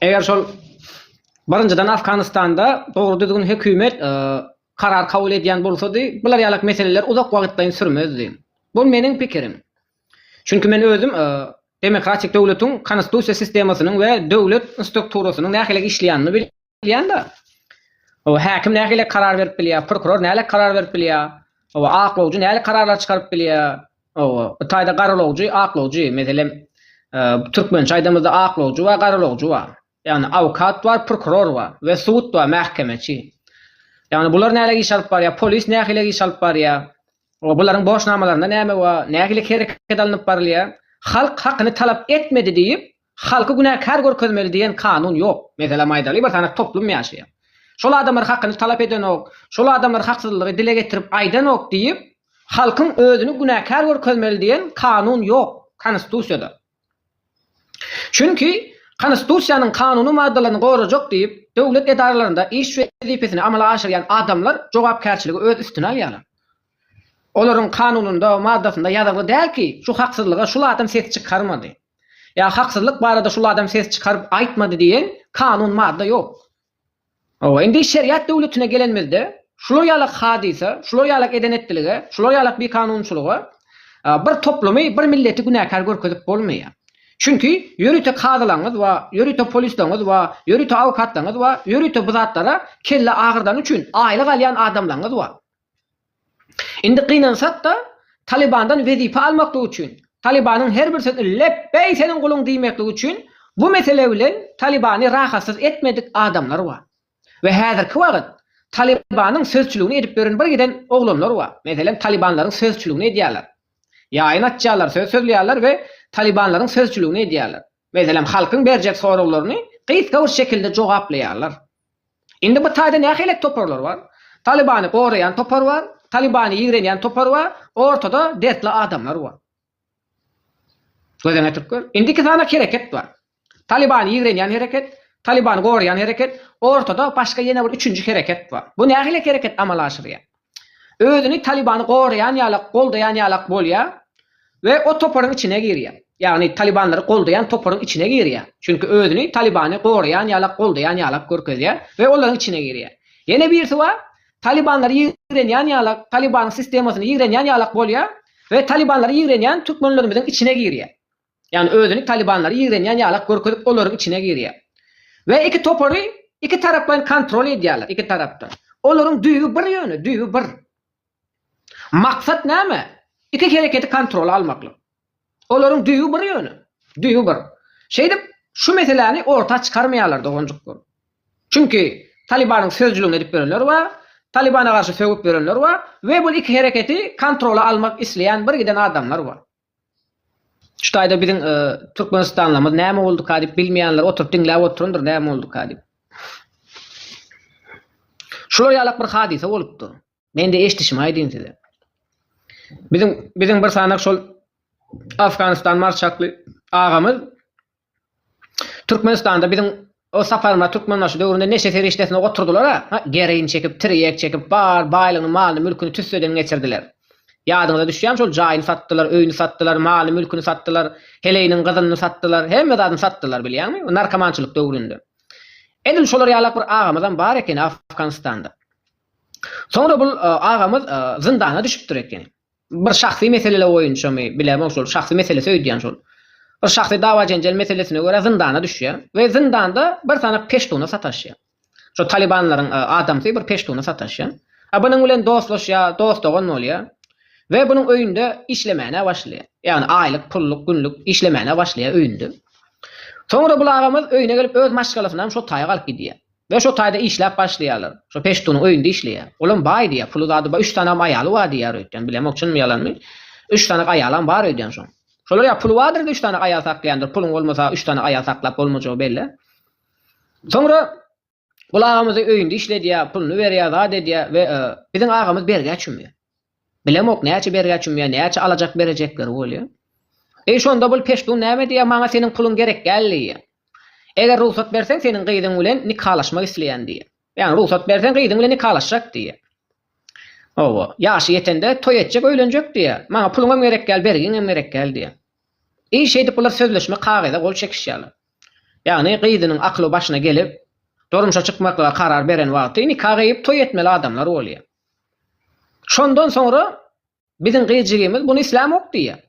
Eger şol birinjiden Afganistanda dogry düzgün hökümet karar kabul edýän bolsady, bular ýalak meseleler uzak wagtlaýyn sürmezdi. Bu meniň pikirim. Çünki men özüm demokratik döwletiň konstitusiýa sistemasynyň we döwlet strukturasynyň nähili işleýänini bilýän. bilýän-de. Hawa, häkim nähili karar berip bilýär, prokuror nälik karar berip bilýär, hawa, aklawjy nälik kararlar çykaryp bilýär, hawa, bu taýda garalawjy, aklawjy, meselem, türkmençe aýdamyzda aklawjy bar, garalawjy bar. Ýagny awkat bar, prokuror bar we sud bar, mähkemeçi. Ýagny bular nälik iş alyp barýar, polis nähili iş alyp barýar, hawa, bularyň borçnamalarynda näme bar, nähili hereket alnyp barylýar, halk hakyny talap etmedi diýip, Halky günäkär görkezmeli diýen kanun ýok. Meselem aýdaly bir sany toplum ýaşaýar. Şol adamlar hakyny talap edenok, şol adamlar haksyzlygy dile getirip aýdanok diýip, halkyň özüni günäkär görkezmeli diýen kanun ýok Konstitusiýada. Çünki Konstitusiýanyň kanuny maddalaryny gorajak diýip, döwlet edaralarynda iş wezipesini amala aşyrýan adamlar jogapkärçiligi öz üstüne alýarlar. Olaryň kanunynda, maddasynda ýazylgy däl ki, şu haksyzlyga şul adam ses çykarmady. Ýa haksyzlyk barada şul adam ses çykaryp aýtmady diýen kanun, madda ýok. Hawa, indi şeriat döwletine gelenimizde, şular ýalak hadysa, şular ýalak eden-etdilige, şular ýalak bikanunçylyga bir toplumy, bir milleti günäkär görkezip bolmaýar. Çünki ýörite kazylaryňyz we ýörite polisleriňiz we ýörite awkatlaryňyz we ýörite bu zatlara kelle agyrdany üçin aýlyk alýan adamlaryňyz bar. Indi gynansak-da, Talybandan wezipe almaklyk üçin, Talybanyň her bir sözüne Lepbeý seniň guluň diýmeklik üçin bu mesele bilen Talybany rahatsyz etmedik adamlar bar. We häzirki wagyt Talybanyň sözçüligini edip ýören bir giden oglanlar bar. Meselem, Talybanlaryň sözçüligini edýärler. Ýaýyn açýarlar, söz sözleýärler we Talybanlaryň sözçüligini edýärler. Meselem, halkyň berjek soraglaryny gysga bir şekilde jogaplaýarlar. Indi bu taýda nähilek toparlar bar? Talybany goraýan topar bar, Talybany ýigrenýän topar bar, ortada dertli adamlar bar. Gözüňe ýetirip gör. Indi iki sany hereket bar. Talybany ýigrenýän hereket, Talybany goraýan hereket, ortada başga ýene bir üçünji hereket bar. Bu nähilek hereket amala aşyrýar? özüni Talybany goraýan ýalak, goldaýan ýalak bolýar we o toparyň içine girýär. Ýagny Talybanlary goldaýan toparyň içine girýär. Çünki özüni Talybany goraýan ýalak, goldaýan ýalak görkezýär we olaryň içine girýär. Ýene birisi bar, Talybanlary ýigrenýän ýalak, Talybanyň sistemasyny ýigrenýän ýalak bolýar we Talybanlary ýigrenýän türkmenlerimiziň içine girýär. ýagny özüni talybanlara ýigrenýän ýalak görkezip olaryň içine girýär we iki topary iki taraplaýyn kontrol edýärler iki tarapdan olaryň düýbi bir ýöne düýbi bir maksat näme iki hereketi kontrola almaklyk olaryň düýbi bir ýöne düýbi bir şeýdip şu meseläni orta çykarmaýarlar doganjyklar çünki talybanyň sözcüligini edip ýörenler bar talybana garşy sögüp ýörenler bar we bul iki hereketi kontrola almak isleýän bir giden adamlar bar. Şu taýda biziň Türkmenistanlymyz näme bolduka diýip bilmeýänler oturyp diňläp oturandyr näme bolduka diýip. Şular ýalak bir hadysa bolupdyr. Mende eşdişimi aýdyn size. Biziň biziň bir sanak şol Afganistan marşakly agamyz Türkmenistanda biziň o saparymyza Türkmenbaşy döwründe neşe serişdesini oturdylar-a, ha, gereýin çekip, tirýek çekip, bar baýlygyny, malyny, mülküni tüsseden geçirdiler. Ýadyňyza düşýärmi şol jaýyny satdylar, öýüni satdylar, malyny, mülküni satdylar, heleýiniň gyzynyny satdylar, hemme zadyny satdylar, bilýäňmi, o narkomançylyk döwründe. Edil şolar ýalak bir agamyzam bar ekeni Afganystanda. Soňra bul agamyz zyndana düşüpdir ekeni. Bir şahsy meseleler boýunçamy, bilemok şol şahsy meselesi öýdýän şol. Bir şahsy dawa-jenjel meselesine görä zyndana düşýär we zyndanda bir sany peştuna sataşýar. Şo talibanlaryň adamsy bir peştuna sataşýar. A bunuň bilen dostlaşýar, dost-dogan bolýar we bunuň öýünde işlemäne başlaýar. Ýagny aýlyk, pulluk, günlük işlemäne başlaýar öýünde. Soňra bul agamyz öýüne gelip öz maşgalasyny hem şo taýak alyp gidýär. Ýa şo taýda işläp başlaýarlar. Şo peştunyň öýünde işleýär. Olam baý diýýär. Puly zady bar. Üç sanam aýaly bar diýýär öýtýän. Bilemok çynmy ýalanmy. Üç sanak aýalam bar öýdýän şoň. Şolar ýa puly bardyr-da üç sanak aýal saklaýandyr. Puluň bolmasa üç sanak aýal saklap bolmajagy bellä. Soňra Gul agamyzy öýünde işledýär. Puluny berýär, zat edýär we biziň agamyz bergä çümýär. Bilemok näçe bergä çümýär näçe alajak berejekleri bolýar. Eý şonda bul peştun näme diýýär maňa seniň puluň gerek däl diýýär. Eger rugsat berseň seniň gyzyň bilen nikalaşmak isleýän diýýär. Ýagny rugsat berseň gyzyň bilen nikalaşjak diýýär. Hawa ýaşy ýetende toý etjek öýlenjek diýýär. Maňa puluňam gerek däl bergiňem gerek däl diýýär. Eý şeýdip bular sözleşme kagyza gol çekişýärler. Ýagny gyzynyň akly başyna gelip durmuşa çykmaklyga karar beren wagty nika gyýyp toý etmeli adamlar bolýar. Şondan soňra biziň gyjygymyz buny islämok diýýär.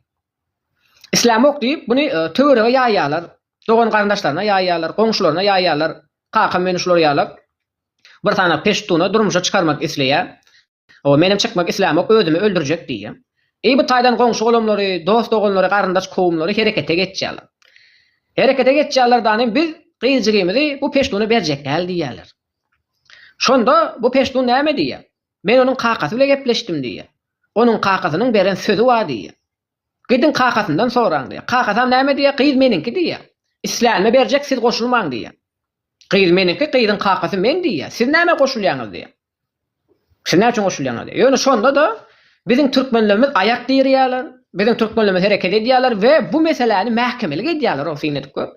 Islämok diýip, buny töwerege ýaýýarlar, dogan-garyndaşlaryna ýaýýarlar, goňşularyna ýaýýarlar. Kakam meni şular ýalak bir sany peştuna durmuşa çykarmak isleýär. O, menem çykmak islämok, özümi öldürjek diýýär. Eý, bu taýdan goňşy-golamlary, dost-doganlary, garyndaş-kowumlary herekete geçýärler. Herekete geçýärler-dä, biz gyjygymyzy bu peştuna berjek däl diýýärler. Şonda bu peştun näme diýýär? Men onuň kakasy bile gepleşdim diýýär. Onuň kakasynyň beren sözi bar diýýär. Gidiň kakasyndan soraň diýýär. Kakasam näme diýýär? Gyz meniňki diýýär. Islänime berjek siz goşulmaň diýýär. Gyz meniňki gyzyň kakasy men diýýär. Siz näme goşulýaňyz diýýär. Siz näçe goşulýaňyz diýýär. Ýöne şonda-da biziň türkmenlerimiz aýak dirýärler, biziň türkmenlerimiz hereket edýärler we bu meseläni mähkemelik edýärler o syn edip gör.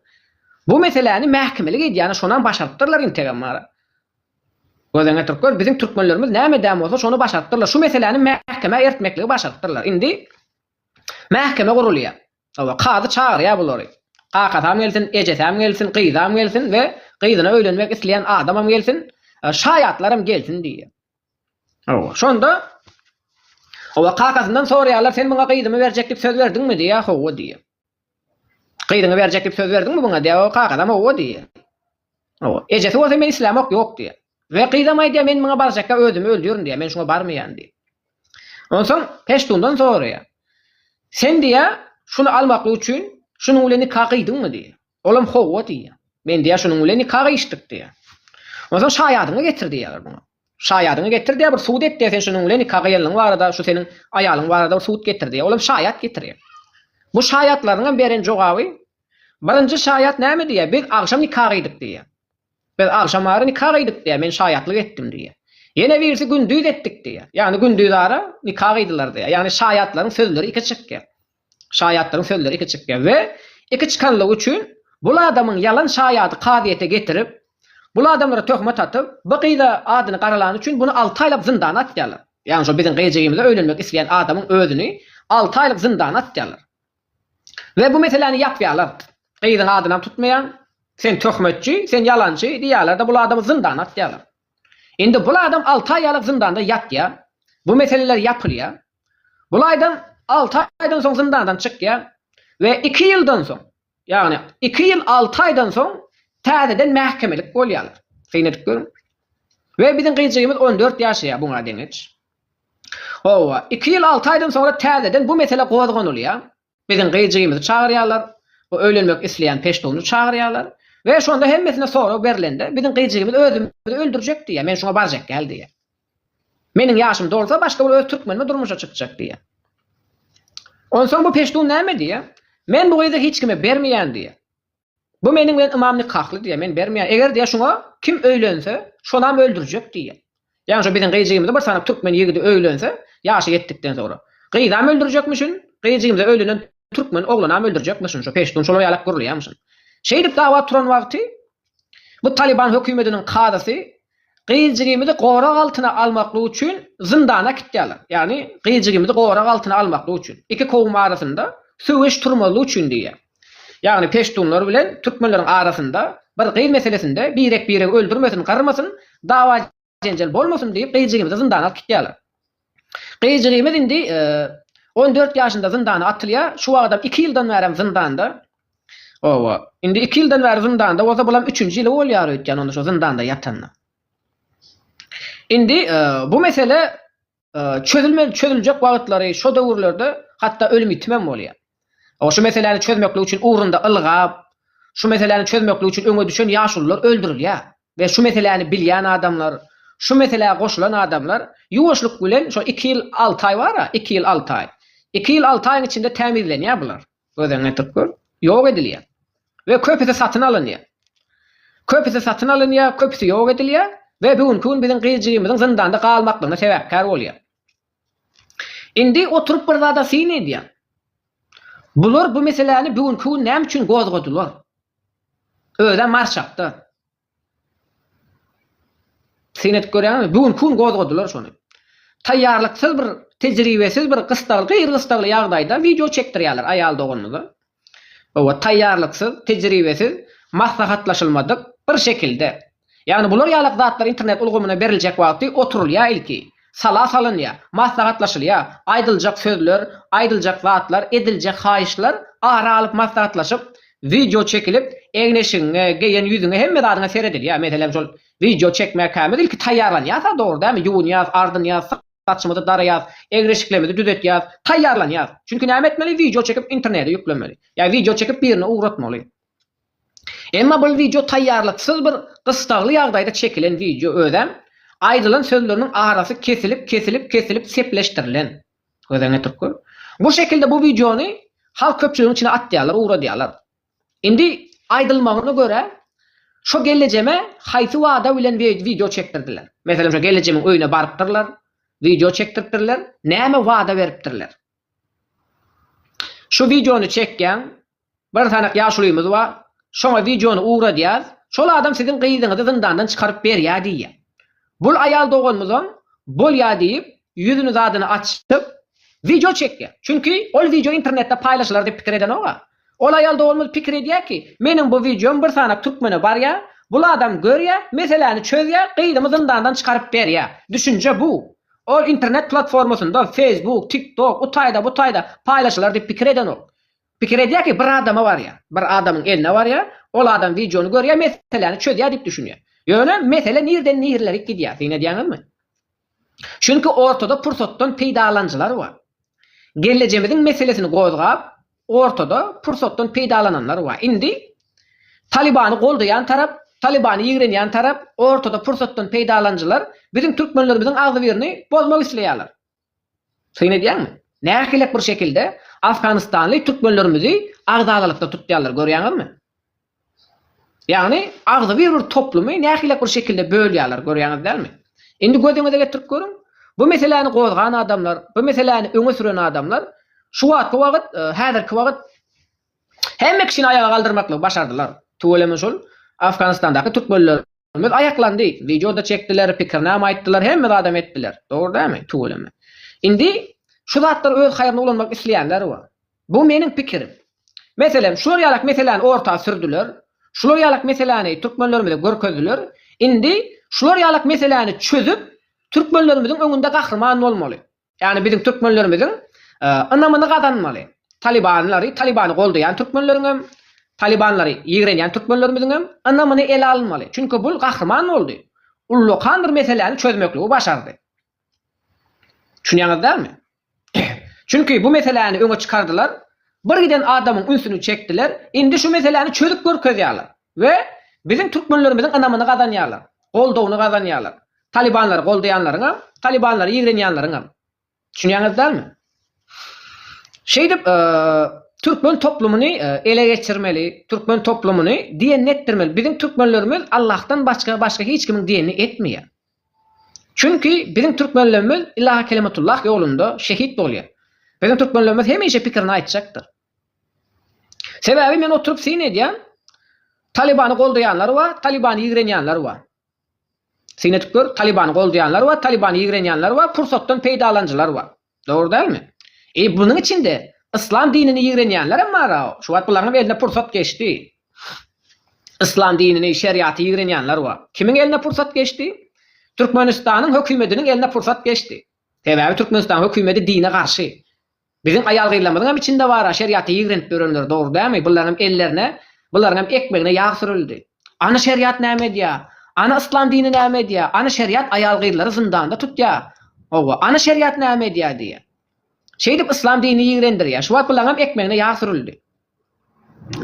Bu meseläni mähkemelik edýärler, şonam başarypdyrlar integem bara. Gözden getirip gör, biziň türkmenlerimiz näme edýän bolsa şony başarypdyrlar. Şu meseläni mähkemä ertmekligi başarypdyrlar. Indi mähkeme gurulýar. Hawa, kazy çagyrýar bulary. Kakasam gelsin, ejesem gelsin, gyzam gelsin we gyzyna öýlenmek isleýän adamam gelsin, şaýatlaram gelsin diýýär. Hawa, şonda Hawa, kakasyndan soraýarlar, Sen muňa gyzymy berjek diýip söz berdiňmi? diýýär, Hawa diýýär. Gyzyňy berjek diýip söz berdiňmi muňa diýýär, kakasam Hawa diýýär. Ejesi bolsa men islämok ýok diýýär. We gyzam aýdýar men muňa barjakka özümi öldürin diýýär men şuňa barmaýan diýip. Onsoň Peştundan soraýar. Sen diýýär şuny almaklyk üçin şunuň bilen nika gyýdyňmy diýýär. Olam howwa diýýär. Men diýýär şunuň bilen nika gyýyşdyk diýýär. Onsoň şaýadyňy getir diýýär muňa. Şaýadyňy getir diýýär bir subut et diýýär sen şunuň bilen nika gyýanlygyň barada şu seniň aýalyň barada bir subut getir diýýär. Olam şaýat getirýär. Bu şaýatlaryňam beren jogaby Birinji şaýat näme diýýär? Biz agşam nika gyýdyk diýýär. Biz agşamara nika gyýdyk diýýär, men şaýatlyk etdim diýýär. Ýene birisi gündiz etdik diýýär. Ýagny gündizara nika gyýdylar diýýär. Ýagny şaýatlaryň sözleri iki çykýar. Şaýatlaryň sözleri iki çykýar we iki çykanlygy üçin bul adamyň ýalan şaýady kazyýete getirip, bul adamlara töhmet atyp, bu gyza adyny garalany üçin buny alty aýlap zyndana atýarlar. Ýagny şo biziň gyjygymyza öýlenmek isleýän adamyň özüni alty aýlyk zyndana atýarlar. We bu meseläni ýapýarlar. Gyzyň adynam tutmaýar. Sen töhmetçi, sen ýalançy diýýärler-de bul adamy zyndana atýarlar. Indi bul adam alty aý ýalyk zyndanda ýatýar. Bu meseleler ýapylýar. Bul aýdam alty aýdan soň zyndandan çykýar. We iki ýyldan soň, ýagny iki ýyl alty aýdan soň täzeden mähkemelik bolýarlar. Syn edip görüň. We biziň gyzjygymyz on dört ýaşaýar buňa deňeç. Hawa, iki ýyl alty aýdan soňra täzeden bu mesele gozganylýar. Biziň gyjyýymyzy çagyrýarlar, o öýlenmek isleýän peştuny çagyrýarlar we şonda hemmesine sorag berlende, biziň gyjyýymyz özümizi öldürjek diýýär, men şoňa barjak däl diýýär. Meniň ýaşym dolsa, başga bir öz türkmenime durmuşa çykjak diýýär. Onsoň bu peştun näme diýýär? Men bu gyzy hiç kime bermeýän diýýär. Bu meniň bilen ymam nikahly diýýär, men bermeýän. Eger diýýär, şuňa kim öýlense, şonam öldürjek diýýär. Ýagny şu biziň gyzjygymyza bir sany türkmen ýigidi öýlense, ýaşy ýetdikden soňra. Gyzam öldürjekmişin, gyzjygymyza öýlenen türkmen oglanam öldürjekmişin, şu peştun şolar ýalak gürleýärmişin. Şeýdip dawa turan wagty bu Talyban hökümediniň kazysy Gyýjygymyzy gorag altyna almaklyk üçin zyndana äkitýärler. Ýagny gyýjygymyzy gorag altyna almaklyk üçin. Iki kowum arasynda söweş turmazlyk üçin diýýär. Ýagny peştunlar bilen türkmenleriň arasynda bir gyz meselesinde birek-biregi öldürmesin, gyrmasyn, dawa-jenjel bolmasyn diýip gyýjygymyzy zyndana alyp gitýärler. Gyzjygymyz indi on dört ýaşynda zyndana atylýar, şu wagtam iki ýyldan bärem zyndanda. Oba, indi iki ýyldan bäri zyndanda bolsa bulam üçünji ýyly bolýar öýtýän onda şo zyndanda ýatanyna. Indi bu mesele çözülmeli çözüljek wagtlary şo döwürlerde hatda ölüm ýitimem bolýar. Oňa şu meseläni çözmeklik üçin ugrunda ylgap, şu meseläni çözmeklik üçin öňe düşen ýaşulular öldürilýär we şu meseläni bilýän adamlar, şu meselä goşulan adamlar ýuwaşlyk bilen şo iki ýyl alty aý bar-a, iki ýyl alty aý. Iki ýyl alty aýyň içinde tämizlenýär bular. Gözüňi getirip gör. Ýok edilýär. We köpüsi satyn alynýar. Köpüsi satyn alynýar, köpüsi ýok edilýär we bu günki gün biziň gyz-jigimizin zyndanda galmaklygyna sebäpkär bolýar. Indi oturyp bir zada syn edýän. Bular bu meseläni bu günki gün näme üçin gozgadylar? Özä marşakda. Syn edip görýäňizmi? Bu günki gün gozgadylar şony. Taýýarlyksyz bir, tejribesiz bir gystagly, gyr-gystagly ýagdaýda wideo çekdirýärler aýal doganymyza. Oba taýýarlyksyz, tejribesiz, maslahatlaşylmadyk, bir şekilde. Ýagny bular ýalak zatlar internet ulgamyna beriljek wagty oturylýar ilki. Sala salynýar, maslahatlaşylýar, aýdyljak sözler, aýdyljak zatlar, ediljek haýyşlar ara alyp maslahatlaşyp, wideo çekilip, egin-eşigiňe, geýen ýüzüňe, hemme zadyňa seredilýär. Meselem şol wideo çekmäkämiz ilki taýýarlanýas-a, dogry dälmi, ýuwunýas, ardynýas, Saçymyzy daraýas, egri-şiklemidi düzetýas, taýýarlanýas. Çünki näme etmeli wideo çekip internede ýüklemeli. Ýa wideo çekip birine ugratmaly. Emma bul wideo taýýarlyksyz bir gystagly ýagdaýda çekilen wideo özem aýdylan sözleriniň arasy kesilip kesilip kesilip sepleşdirilen. Göz öňe türkü. Bu şekilde bu wideony halk köpçüligiň içine atýarlar ugradýarlar. Indi aýdylmagyna görä, şo gelejeme haýsy wada bilen wideo çekdirdiler? Meselem, şo gelejemiň öýüne barypdyrlar, wideo çekdiripdirler, näme wada beripdirler? Şu wideony çekýän bir sanak ýaşulymyz bar, şoňa wideony ugradýas, şol adam siziň gyzyňyzy zyndandan çykaryp berýär diýýär. Bul aýal doganymyzam bolýar diýip, ýüzüni zadyny açyp, wideo çekýär. Çünki ol wideo internetde paýlaşylar diýip pikir edenok-a. Ol aýal doganymyz pikir edýär ki, meniň bu wideom bir sanac türkmene barýar, bul adam görýär, meseläni çözýär, gyzymy zyndandan çykaryp berýär. Düşünje bu. Ol internet platformasynda, Facebook, TikTok, u taýda, bu taýda, paýlaşylar diýip pikir edenok. Pikir edýär ki, bir adama barýar, bir adamyň eline barýar, ol adam wideony görýär, meseläni çözýär diýip düşünýär. Ýöne mesele nirden nirlerik gidýär, syn edýäňizmi? Çünki ortada pursatdan peýdalanyjylar bar. Gellejemiziň meselesini gozgap, ortada pursatdan peýdalananlar bar. Indi Talybany goldaýan tarap, Talybany ýigrenýän tarap, ortada pursatdan peýdalanyjylar biziň türkmenlerimiziň agzybirni bozmak isleýärler. Syn edýäňmi? Nähilek bir şekilde afganistanly türkmenlerimizi agzalalykda tutýarlar, görýäňizmi? Ýagny, agzybir bir toplumy nähilek bir şekilde bölýärler, görýäňiz dälmi? Indi gözüňize getirip görüň, bu meseläni gozgan adamlar, bu meseläni öňe süren adamlar şu wagtky wagt, häzirki wagt hemme kişini aýaga galdyrmaklygy başardylar. Tüweleme şol Afganistandaky türkmenlerimiz aýaklandy, wideo-da çekdiler, pikirnama aýtdylar, hemme zadam etdiler. Dogry dälmi? Tüweleme. Indi şu zatlar öz haýryna ulanmak isleýänler bar. Bu meniň pikirim. Meselem, şular ýalak meseläni orta sürdüler, şular ýalak meseläni türkmenlerimize görkezdiler, indi şular ýalak meseläni çözüp, türkmenlerimiziň öňünde gahryman bolmaly. Ýagny biziň türkmenlerimiziň ynamyny gazanmaly. Talibanlary, Talibany goldaýan türkmenleriň hem, Talibanlary ýigrenýän türkmenlerimiziň hem ynamyny ele alynmaly. Çünki bul gahryman boldy. Ullakan bir meseläni çözmekligi başardy. Düşünýäňiz dälmi? Çünki bu meseläni öňe çykardylar, bir giden adamyň ünsüni çekdiler, indi şu meseläni çözüp görkezýärler we biziň türkmenlerimiziň ynamyny gazanýarlar, goldawyny gazanýarlar. Talybanlary goldaýanlaryňam, talybanlary ýigrenýänleriňem. Düşünýäňiz dälmi? Şeýdip, türkmen toplumyny ele geçirmeli, türkmen toplumyny diýenini etdirmeli. Biziň türkmenlerimiz Allahdan başga, başga hiç kimiň diýenini etmeýär. Çünki biziň türkmenlerimiz Ylahy Kelimatullah ýolunda şehit bolýar. Biziň türkmenlerimiz hemişe pikirini aýtjakdyr. Sebäbi men oturyp syn edýän, Talybany goldaýanlar bar, Talybany ýigrenýänler bar. Syn edip gör, Talybany goldaýanlar bar, Talybany ýigrenýänler bar, pursatdan peýdalanyjylar bar. Dogry dälmi? Eý, bunuň içinde yslam dinini ýigrenýänlerem bar-a, şu wagt bularyňam eline pursat geçdi. Yslam dinini, şeriaty ýigrenýänler bar. Kimiň eline pursat geçdi? Türkmenistanyň hökümediniň eline pursat geçdi. Sebäbi Türkmenistanyň hökümedi dine garşy. Biziň aýal-gyzlarymyzyňam içinde bar-a şeriaty ýigrenip ýörenler, dogry dälmi? Bularyňam ellerine, bularyňam ekmegine ýag sürüldi. Ana şeriat näme edýär? Ana yslam dini näme edýär? Ana şeriat aýal-gyzlary zyndanda tutýar. Howwa, ana şeriat näme edýär diýýär. Şeýdip yslam dini ýigrendirýär. Şu wagt bulaňam ekmegine ýag sürüldi.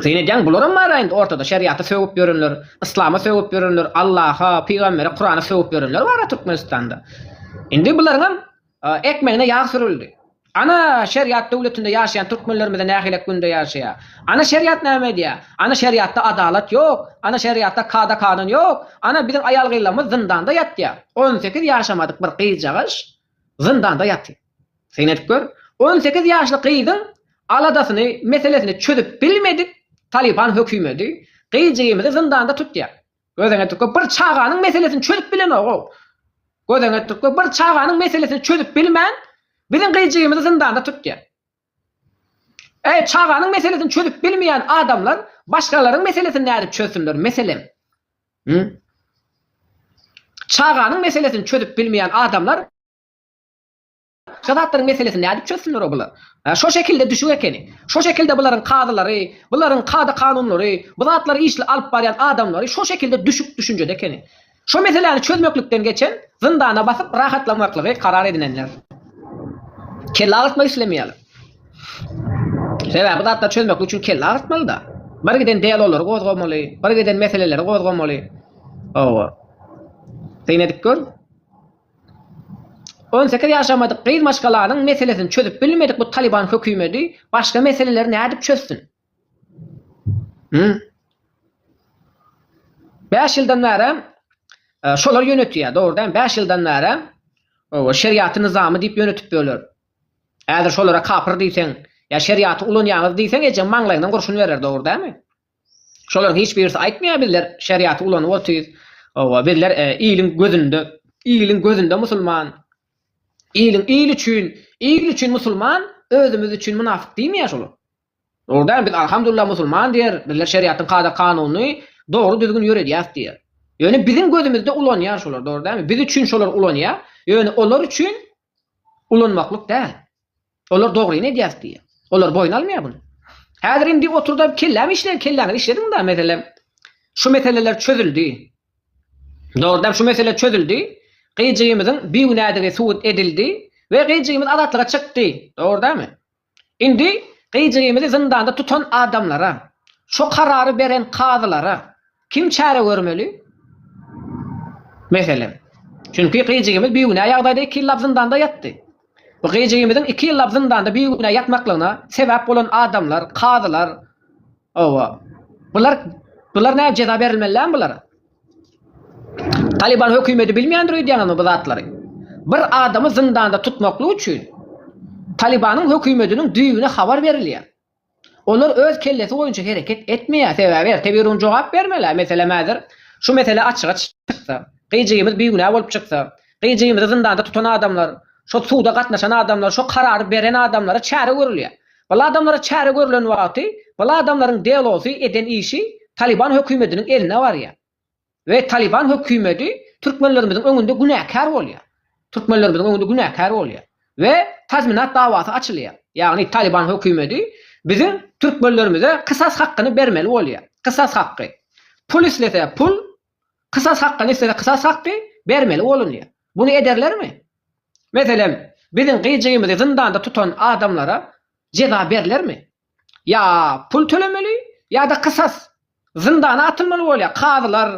Sen edýäň, bularam bar-a indi ortada şeriata sögüp ýörenler, yslama sögüp ýörenler, Allaha, pygambere, Kurana sögüp ýörenler bar-a Türkmenistanda. Indi bularyňam Ekmegine ýag sürüldi. Ana şeriat döwletinde ýaşaýan türkmenlerimize nähilek günde ýaşaýar. Ana şeriat näme edýär? Ana şeriatda adalat ýok. Ana şeriatda kada kanun ýok. Ana biziň aýal gyzlarymyz zyndanda ýatýar. On sekiz ýaşamadyk bir gyzjagaş zyndanda ýatyr. Syn edip gör. On sekiz ýaşly gyzyň aladasyny, meselesini çözüp bilmedik Talyban hökümedi gyzjygymyzy zyndanda tutýar. Gözeňe türkmen bir çaganyň meselesini çözüp bilenogou. Gözeňe türkmen bir çaganyň meselesini çözüp bilmän biziň gyjygymyzy zyndanda tutýar. Eý çaganyň meselesini çözüp bilmeýän adamlar başgalaryň meselesini nädip çözsünler meselem. Hü? Çaganyň meselesini çözüp bilmeýän adamlar Şo zatlaryň meselesi nädip çözsünler-ow bular? Hä, şo şekilde düşüň ekeni. Şo şekilde bularyň kazylary, bularyň kada-kanunlary, bu zatlary işli alyp barýan adamlary şo şekilde düşük düşünjede ekeni. Şo meseläni çözmeklikden geçen, zyndana basyp rahatlanmaklygy karar edinenler. Kelle agyrtmak islemeýärler. Sebäbi bu zatlary çözmeklik üçin kelle agyrtmaly-da. Birgiden dialoglary gozgamaly, birgiden meseleleri gozgamaly. Hawa. Syn edip gör. On sekiz ýaşamadyk gyz maşgalanyň meselesini çözüp bilmedik bu Talyban hökümedi başga meseleleri nädip çözsün? Bäş ýyldan bäri şolar ýönetýär, dogry däl, bäş ýyldan bäri şeriaty nyzamy diýip ýönetip ýörler. Häzir şolara kapyr diýseň, ýa şeriaty ulanýaňyz diýseň ejeň maňlaýyňdan gurşun berer, dogry dälmi? Şolaryň hiç birisi aýtmaýar bizler şeriaty ulanyp otyrys. Hawa bizler iliň gözünde iliň gözünde musulman. Iliň il üçin il üçin musulman özümiz üçin mynafyk diýmeýär şolar. Dogry däl biz alhamdullah musulman diýer bizler şeriatyň kada kanunyny dogry düzgün ýöredýäs diýer. Ýöne biziň gözümizde ulanýar şolar dogry dälmi biz üçin şolar ulanýar ýöne olar üçin ulanmaklyk däl. Olar dogryny edýäs diýýä. Olar boýun almaýa buny. Häzir indi oturda kellämi işle, kelläňizi işlediň da meselem şu meseleler çözüldi. Dogrudan şu mesele çözüldi. Gyjymyzyň bigünädigi subut edildi we gyjymyz azatlyga çykdy. Dogurdamy? Indi gyjymyzy zyndanda tutan adamlara, şu karary beren kazylara, Kim çäre görmeli? Meselem. Çünki gyjygimiz bigünä ýagdaýda iki ýyllap zyndanda ýatdy. Bu gyjygimiziň iki ýyllap zyndanda bigünä ýatmaklygyna sebäp bolan adamlar, kazylar, hawa, bular, bular näme jeza berilmelilämi bulara? Talyban hökümeti bilmeýändir öýdýäňizmi bu zatlary? Bir adamy zyndanda tutmaklyk üçin Talybanyň hökümetiniň düýbüne habar berilýär. Olar öz kellesi boýunça hereket etmeýär, sebäbi erte birun jogap bermeli-ä, meselem häzir şu mesele açyga çyksa, gyjygymyz bigünä bolup çyksa, gyjygymyzy zyndanda tutan adamlar, şo suda gatnaşan adamlar, şo karary beren adamlara çäre görülýär. Bul adamlara çäre görülen wagty bul adamlaryň delosy, eden işi Talyban hökümediniň eline barýar. we Taliban hökümedi türkmenlerimiziň öňünde günäkär bolýar. Türkmenlerimiziň öňünde günäkär bolýar we tazminat dawasy açylýar. Ýagny Taliban hökümedi biziň türkmenlerimize kysas hakkyny bermeli bolýar. Kysas hakky. Pul islese pul, kysas hakkyny islese kysas hakky bermeli bolunýar. Buny ederlermi? Meselem, biziň gyjyýmyzy zyndanda tutan adamlara jeza berlermi? ýa pul tölemeli, ýa-da kysas, zyndana atylmaly bolýar. Kazylar,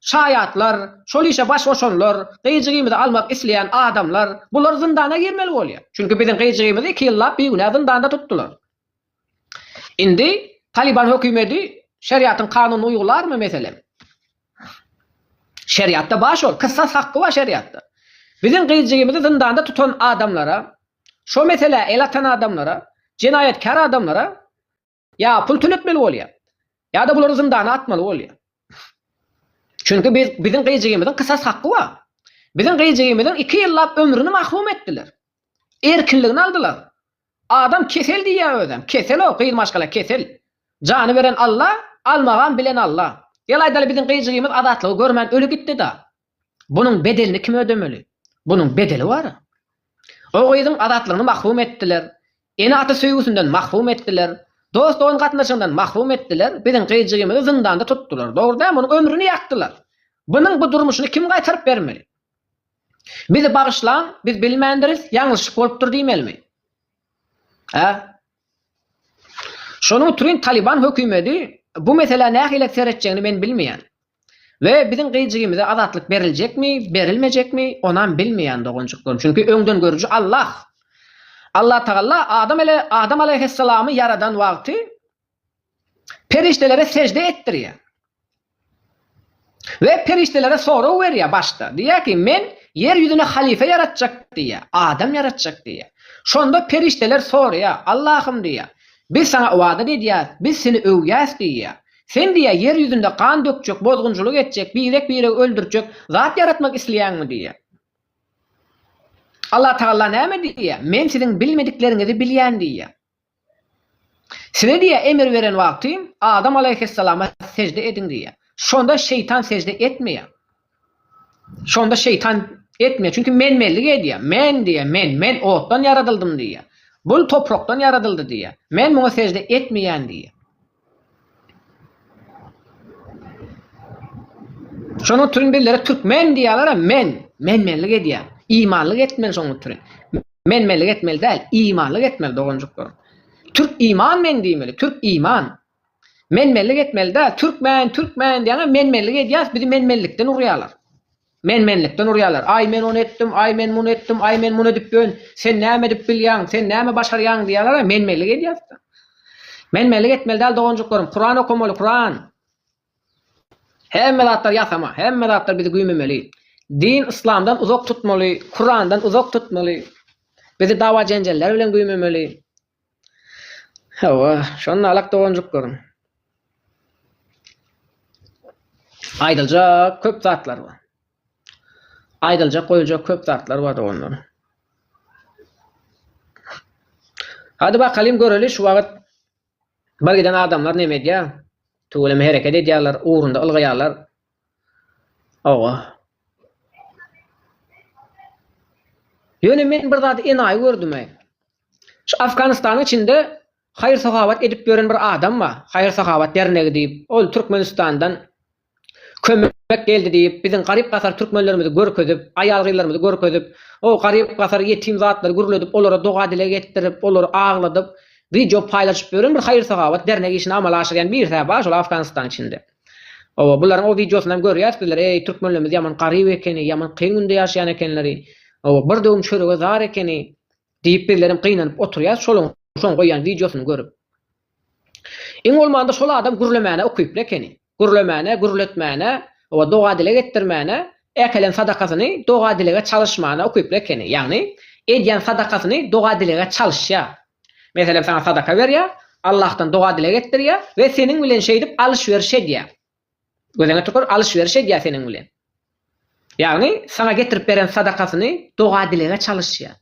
şaýatlar, şol işe baş goşanlar, gyýjygymyzy almak isleýän adamlar, bular zyndana girmeli bolýar. Çünki biziň gyýjygymyzy iki ýyllap bigünä zyndanda tutdular. Indi Talyban hökümeti şeriatyň kanunyny uýgularmy, meselem? Şeriatda bar şol, kysas hakky bar şeriatda. Biziň gyýjygymyzy zyndanda tutan adamlara Şo meselä el atan adamlara, jenaýatkär adamlara ýa pul töletmeli bolýar, ýa-da bulary zyndana atmaly bolýar. Çünki biz, biziň gyjygymyzyň kysas haky bar. Biziň gyjygymyzyň iki ýyllap ömrüni mahrum etdiler. Erkinligini aldylar. Adam kesel diýýär özem. Kesel o, gyz maşgala kesel. Jany beren Alla, almagam bilen Alla. Gel aýdaly biziň gyjygymyz azatlygy görmän öli gitdi-da. Bunuň bedelini kim ödemeli? Bunuň bedeli bar. O gyzyň azatlygyny mahrum etdiler, ene-ata söýgüsinden mahrum etdiler, dost-dogan gatnaşygyndan mahrum etdiler, biziň gyzjygymyzy zyndanda tutdular, dogry dämi, onuň ömrüni ýakdylar. Bunuň bu durmuşyny kim gaýtaryp bermeli? Bizi bagyşlaň, biz bilmändiris, ýalňyşlyk bolupdyr diýmelimi? Hä? Şonuň utrin Taliban hökümedi bu meselä nähile seretjegini men bilmeýän. We biziň gyjygimize azatlyk beriljekmi, berilmejekmi, onam bilmeýän doganjyklarym. Çünki öňdengörüji Allah. Allatagalla Adam ale Adam alaýhyssalamy ýaradan wagty, Perişdelere sežde etdirýär. We perişdelere sorag berýär başda. Diýýär ki, men ýer ýüzüne halypa ýaratjak diýýär, adam ýaratjak diýýär. Şonda perişdeler soraýar, Allahym diýýär, biz saňa ybadat edýäs, biz seni öwýäs diýýär. Sen diýýär ýer ýüzünde gan dökjek, bozgunçylyk etjek, birek biregi öldürjek zat ýaratmak isleýäňmi diýýär. Allatagalla näme diýýär, men siziň bilmedikleriňizi bilýän diýýär. Size diýýär, emr beren wagtym, Adam alaýhyssalama sežde ediň diýýär. Şonda şeýtan sežde etmeýär. Şonda şeýtan etmeýär. Çünki men-menlik edýär. Men diýýär, men, men otdan ýaradyldym diýýär. Bul toprakdan ýaradyldy diýýär. Men muňa sežde etmeýän diýýär. Şonuň üçin bizlere türkmen diýýärler, men, men-menlik edýär. Imanlyk etmeli şonuň üçin. Men-menlik etmeli däl, imanlyk etmeli doganjyklarym. Türk iman men diýmeli, türk iman. Men-menlik etmeli däl, türkmen, türkmen diýýäňä men-menlik edýäs, bizi men-menlikden urýarlar. Men-menlikden urýarlar. Aý, men ony etdim, aý, men muny etdim, aý, men muny edip ýörün, sen näme edip bilýäň, sen näme başarýaň diýýärler-ä, men-menlik edýäris-de. Men-menlik etmeli däl, doganjyklarym, Kuran okamaly, Kuran! Hemme zatlar ýasama, hemme zatlar bizi güýmemeli. Din yslamdan uzak tutmaly, Kurandan uzak tutmaly. Bizi dawa-jenjeller bilen güýmemeli. Hawa, şonda alak doganjyklaryň aýdyljak köp zatlary bar. Aýdyljak, goýuljak köp zatlary bar doganlar. Hady bakalym göreli şu wagt birgiden adamlar neme edýär? Tüweleme hereket edýärler, ugrunda ylgaýarlar. Hawa. Ýöne men bir zady enaýy gördüme. Şu Afganystanyň içinde haýyr-sahawat edip ýören bir adam bar. Haýyr-sahawat dernegi diýip, ol Türkmenistandan kömek geldi diýip, biziň garyp-gasar türkmenlerimizi görkezip, aýal-gyzlarymyzy görkezip, o garyp-gasar, ýetim zatlary gürledip, olara doga-dileg etdirip, olary agladyp, wideo paýlaşyp ýören bir haýyr-sahawat dernegi işini amala aşyrýan birisi-hä bar şol Afganystanyň içinde. Oba bularyň o wideosyny hem görýäs bizler eý türkmenlerimiz ýaman garyp ekeni ýaman kyn günde ýaşaýan ekenleri oba bir döwüm çörege zar ekeni diýip bizlerem gynanyp oturýas şolaň şoň goýýan wideosyny görüp iň bolmanda şol adam gürlemäne ukyply ekeni gürlemäne gürletmäne oba doga dileg etdirmäne äkelen sadakasyny doga dilege çalyşmana ukyply ekeni ýagny edýän sadakasyny doga dilege çalyşýar Meselem, saňa sadaka berýär, Allahdan doga-dileg etdirýär we seniň bilen şeýdip alyş-beriş edýär. Gözüňe tükür, alyş-beriş edýär seniň bilen. Ýagny, saňa getirip beren sadakasyny doga-dilege çalyşýar.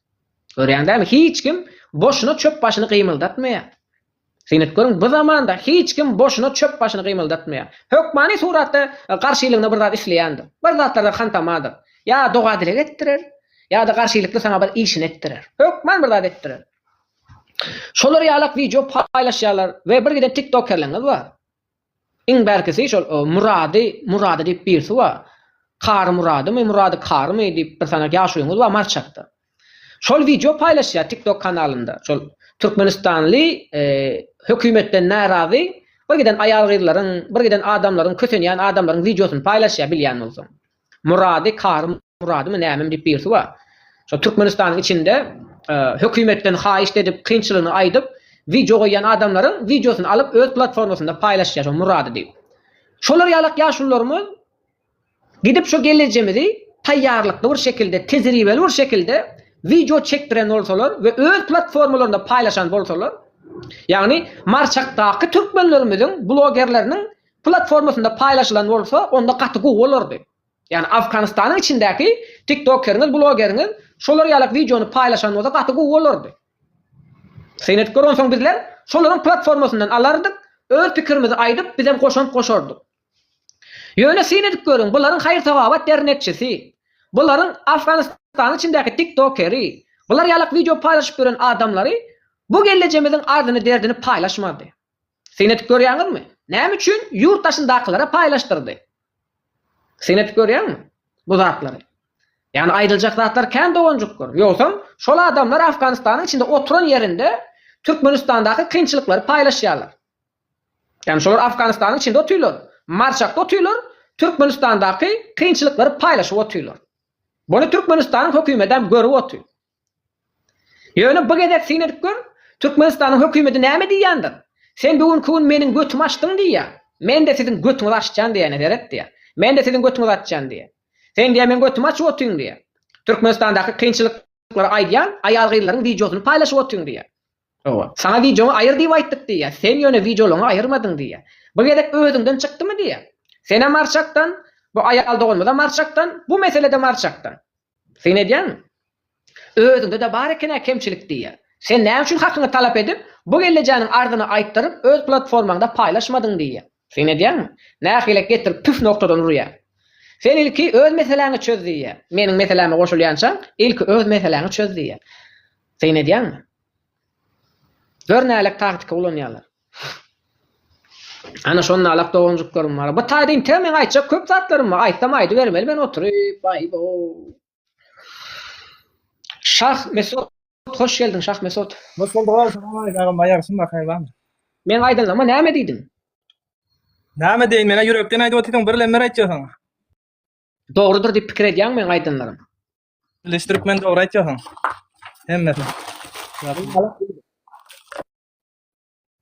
Görýäň dämi, hiç kim boşuna çöp başyny gymyldatmaýar. Syn edip görüň, bu zamanda hiç kim boşuna çöp başyny gymyldatmaýar. Hökmany suratda garşylygyna bir zat isleýändir, bir zatlardan hantamadyr. Ýa doga-dileg etdirer, Ýa-da garşylykly saňa bir işini etdirer. Hökman bir zat etdirer. Şolar ýalak wideo paýlaşýarlar we bir giden tiktokerlerňiz bar. Iň bärkisi şol Murady Murady diýip birisi bar. Kary Muradymy, Murady Karymy diýip bir sanak ýaşulyňyz bar Marçakda. Şol wideo paýlaşýar tiktok kanalynda. Şol türkmenistanly hökümetden närazy bir giden aýal-gyzlaryň, bir giden adamlaryň kösenýän adamlaryň wideosyny paýlaşýar bilýän bolsaň. Murady Kary Muradymy nämemi diýip birisi bar. Şo Türkmenistanyň içinde hökümetden haýyşt edip kynçylygyny aýdyp wideo goýýan adamlaryň wideosyny alyp öz platformasynda paýlaşýar şo Murady diýip. Şolar ýalak ýaşulularymyz gidip şo gelejemizi taýýarlykly bir şekilde tejribeli bir şekilde wideo çekdiren bolsalar we öz platformalarynda paýlaşan bolsalar ýagny Marçakdaky türkmenlerimiziň blogerleriniň platformasynda paýlaşylan bolsa onda gaty gowy bolardy. Ýagny Afganystanyň içindäki tiktokeriňiz blogeriňiz şolar ýalak wideony paýlaşan bolsa gaty gowy bolardy. Syn edip gör onsoň bizler şolaryň platformasyndan alardyk öz pikirimizi aýdyp bizem goşant goşardyk. Ýöne syn edip görüň bularyň haýyr sawabat dernekçisi, bularyň Afganystanyň içindäki tiktokeri, bular ýalak wideo paýlaşyp ýören adamlary bu gellejemiziň ardyny derdini paýlaşmazdy. Syn edip görýäňizmi? Näme üçin ýurt daşyndakylara paýlaşdyrdy? Syn edip görýäňmi bu zatlary? Ýagny aýdyljak zatlar kän doganjyk gör. Ýogsam şol adamlar Afganystanyň içinde oturan ýerinde Türkmenistandaky kynçylyklary paýlaşýarlar. Ýagny şolar Afganystanyň içinde otyrlar, Marçakda otyrlar, Türkmenistandaky kynçylyklary paýlaşyp otyrlar. Buny Türkmenistanyň hökümetem görüp otyr. Ýöne bu gezek syn edip gör, Türkmenistanyň hökümeti näme diýýändir? Sen bu günki gün meniň götümi açdyň diýýär. Men-de siziň götüňizi açjan diýýän, seret diýýär. Men-de siziň götüňizi açjan diýýär. Sen diýýär meň götümi açyp otyň diýýär. Türkmenistandaky kynçylyklary aýdýan aýal-gyzlaryň wideosyny paýlaşyp otyň diýýär. Hawa, saňa wideoňy aýyr diýip aýtdyk diýýär. Sen ýöne wideolaryňy aýyrmadyň diýýär. Bu gezek özüňden çykdymy diýýär. Senem arçakdan, bu aýal doganymyzam arçakdan, bu mesele-de arçakdan. Syn edýäňmi? Özüňde-de bar eken-ä kemçilik diýýär. Sen näme üçin hakyňy talap edip, bu gellejaňyň arzyny aýtdyryp, öz platformaňda paýlaşmadyň diýýär. Syn edýäňmi? Nähilek getirip püf noktadan urýar. Sen ilki öz meseläňi çöz diýýär. Meniň meseläme goşulýançaň, ilki öz meseläňi çöz diýýär. Syn edýäňmi? Gör nälik taktika ulanýarlar. Ana şonalak doganjyklarym bar. Bu taýda intew meň aýtjak köp zatlarym bar. Aýtsam aýdybermeli men oturyp. Aýbo. Şah Mesut hoş geldiň Şah Mesut. Hoş bulduk agam. Salam aleyk agam. Aýagyşym bar haýyr barmy? Meň aýdanlaryma näme diýdiň? Näme diýin meňe ýürekden aýdyp otyryň bir lemmer aýtja saňa. Dogrudyr diýip pikir edýäňmi meň aýdanlarym? Bilis türkmen dogry aýtja saňa. Hemmesini.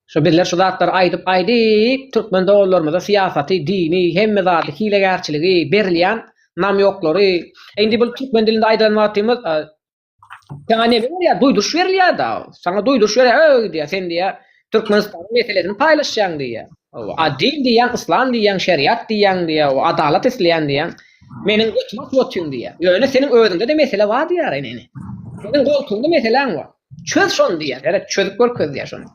Şu bizler şu zatlary aýdyp aýdyp türkmen doganlarymyza syýasaty, dini, hemme zady, hilegärçiligi, berilýän namýoklary, indi bul türkmen dilinde aýdan wagtymyz saňa neme berýär, duýduryş berilýär da, saňa duýduryş berýär, öý diýýär, sen diýýär Türkmenistanyň meselesini paýlaşýaň diýýär. Hawa, a din diýýäň, yslam diýýäň, şeriat diýýäň diýýär, o adalat isleýän diýýäň. Meniň götümi atyp otyň diýýär. Ýöne seniň özüňde-de mesele bar diýýär ene. Seniň goltuňda meseläň bar. Çöz şony diýýär. Gerek çözüp görkez diýýär şony.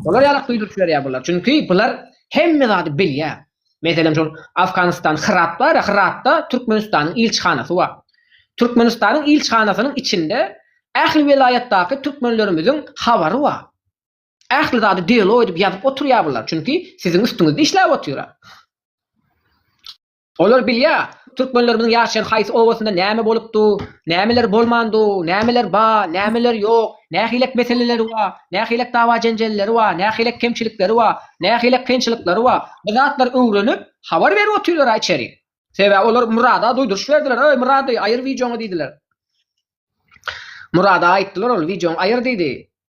Olar ýalak duýduryp jiberiýär bular. Çünki bular hemme zady bilýär. Meselem şol Afganistan Hyrat bar ýa Hyratda Türkmenistanyň ilçihanasy bar. Türkmenistanyň ilçihanasynyň içinde ähli welaýatdaky türkmenlerimiziň habary bar. Ähli zady dialog edip ýazyp oturýar bular. Çünki siziň üstüňizde işläp otyra. Olar bilýär, türkmenlerimiziň ýaşaýan haýsy obasynda näme bolup dur, nämeler bolman dur, nämeler bar, nämeler ýok, nähilek meseleleri bar, nähilek dawa-jenjelleri bar, nähilek kemçilikleri bar, nähilek kynçylyklary bar. Bu zatlary öwrenip, habar berip otyrlar-a içeri. Sebäbi olar Murada duýduryş berdiler, Öý, Murady, aýyr wideoňy diýdiler. Murada aýtdylar ol, Wideoňy aýyr diýdi.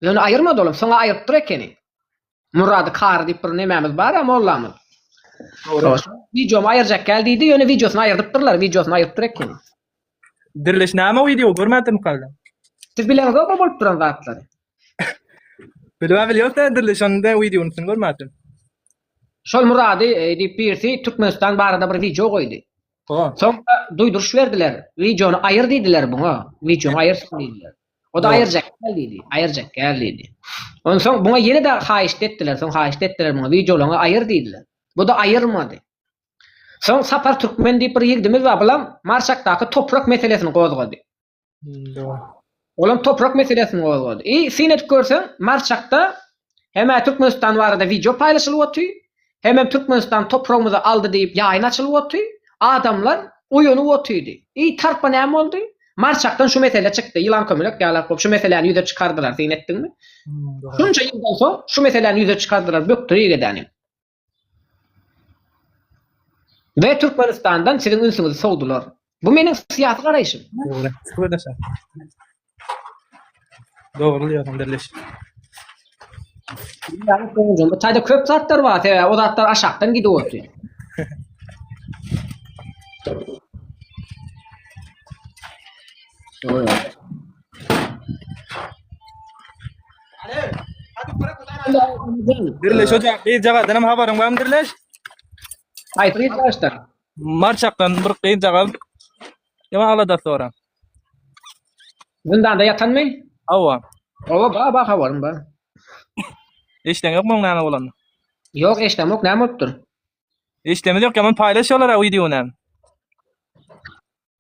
Ýöne aýyrmady olam, soň-a aýrypdyr ekeni. Murady kary diýip bir nemämiz bar a mollamyz. Dogry. Wideomy aýyrjak gel diýdi, ýöne wideosyny aýyrdypdyrlar, wideosyny aýyrdypdyr ekeni. Diriliş näme wideo görmädim kalda. Siz bileňizokmy bolup duran zatlary? Bilmä bilýär sen diriliş onda wideony sen görmädim. Şol Murady e, diýip birisi Türkmenistan barada bir wideo goýdy. O. Soňra duýduryş berdiler. Wideony aýyr diýdiler buňa. Wideony aýyrsyn diýdiler. O-da aýyrjak gel diýdi, aýyrjak gel diýdi. Onsoň buňa ýene-de haýyşt etdiler, soň haýyşt etdiler muňa, wideolaňy aýyr diýdiler. Bu-da aýyrmady. Soň Sapar Türkmen diýip bir ýigdimiz bar, bulam Marşakdaky toprak meselesini gozgady. Olam toprak meselesini gozgady. I, syn edip görseň, Marşakda Hemä Türkmenistan barada wideo paýlaşylyp oty, hemem Türkmenistan topragymyzy aldy diýip ýaýyn açylyp oty, adamlar oýanyp otydy. Eý tarpa näme boldy? Marçakdan şu mesele çykdy, ýylan kömelek ýalak bolup şu meseläni ýüze çykardylar syn etdiňmi? Şunça ýyldan soň şu meseläni ýüze çykardylar bökdür ýegedänim. We Türkmenistandan siziň ünsüňizi sowdular. Bu meniň syýasy garaýşym. Dogry. Şükür ede şa. Dogry diýýärsiň derleş. Ýagny soňundan bu taýda köp zatlar bar, sebäbi o zatlar aşakdan gidip otyr. Oýa. Birleş hoca, bir jagadan hem habaryň barmy Birleş? Haýsy gyz başda? Marçakdan bir gyz jagaz. Ýa alada soran. Zindanda ýatanmy? Hawa. Oba ba ba habarym bar. Eşden ýokmy onuň näme bolany? Ýok eşdem ýok näme bolupdyr? Eşdemiz ýok, ýaman paýlaş şolara wideony.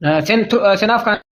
Ee, Sen tu- e, sen Afgan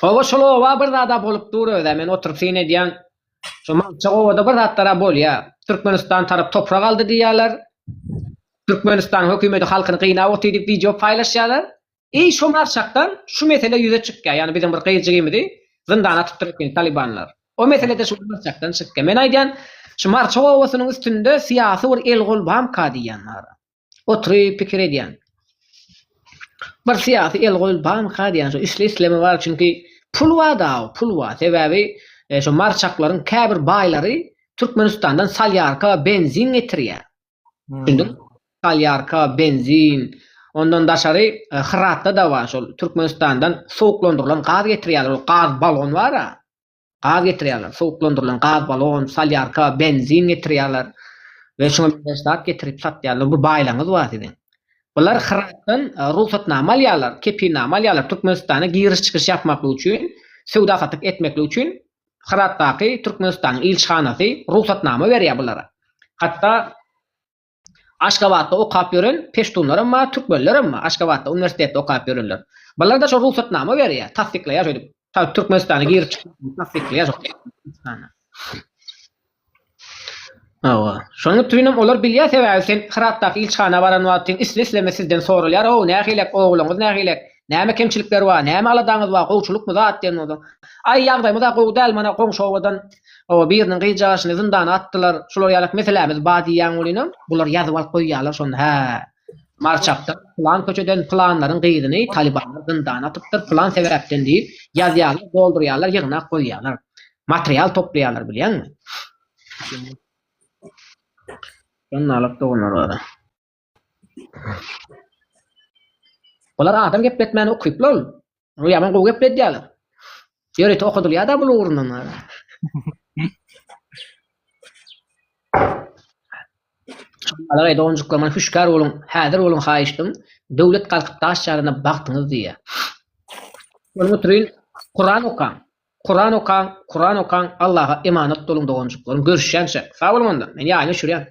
Hawa şol oba bir zada bolup dur öze men oturyp syn edyan şo Magtjak obada bir zatlara bolya Türkmenistan tarap toprak aldy diyyaler Türkmenistan hökümedi halkyny gynap otyr diyip video paylaşyalar I şo Magtjakdan şu mesele yüze çykya yani biziň bir gyzjigimizi zyndana atypdyr eken talibanlar o meselede şu Magtjakdan çykya men aydyan şu Magtjak obasynyň üstünde siyasy bir el gol bamka diyyan mara. Oturyp pikir edýän. Bir syýasy el goýul banka diýýän şu isle isleme bar çünki pul bar da pul bar sebäbi e, şu marçaklaryň käbir baýlary Türkmenistandan salýarka benzin getirýär. Düşündin? Hmm. Salýarka benzin Ondan daşary e, Hyratda da bar şol Türkmenistandan suwuklandyrylan gaz getirýärler. Ol gaz balon bar-a. gaz getirýärler, sowuklandyrylan gaz balon, solýarka, benzin getirýärler we şuňa meňzeş zat getirip satýarlar, bu baýlygyňyz bar siziň. Bular Hyratdan e, rugsatnama alýarlar, kepilnama alýarlar Türkmenistana giriş-çykyş ýapmaklyk üçin, söwda-satyk etmeklik üçin Hyratdaky Türkmenistanyň ilçihanasy rugsatnama berýär bulara. Hatda Aşgabatda okap ýören peştunlaram bar, türkmenlerem bar, Aşgabatda uniwersitetde okap ýörenler. Bularda şo rugsatnama berýär, tassyklaýar şeýdip, ta Türkmenistana girip çykmagyny tassyklaýar şo Türkmenistana. Hawa. Şonuň üçinem olar bilýär sebäbi sen Hyratdaky ilçihana baran wagtyň isle-isleme sizden soralýar, Hawa, nähilek, ogluňyz nähilek? Näme kemçilikler bar, näme aladaňyz bar, gowçulykmy zat diýen bolsa, Aý, ýagdaýymyz-a gowy däl, mana, goňşy obadan biriniň gyzjagazyny zyndana atdylar, şular ýaly meselämiz bar diýýän bolýanam, bular ýazyp alyp goýýarlar şony, hä, Marçakdan pylan köçeden pylanlaryň gyzyny talybanlar zyndana atypdyr, pylan sebäpden diýip, ýazýarlar, doldurýarlar, ýygnak goýýarlar. Material toplaýarlar, bilýäňmi? Şonda alyp doganlar bar-a. Bular adam gepletmäne ukyply ol. Bu ýaman gowy gepledýärler. Ýörite okadylýar-da bul ugrundan. Alagaý doganjyklar, maňa hüşgär boluň, häzir boluň haýyşdym. Döwlet galkyp daş ýarana bagtyňyz diýýär. Şol oturyn, Kuran okaň. Kuran okaň, Kuran okaň, Allaha emanat boluň doganjyklaryň. Görüşýänçä. Sag boluň onda. Men ýaýyň öçürýän.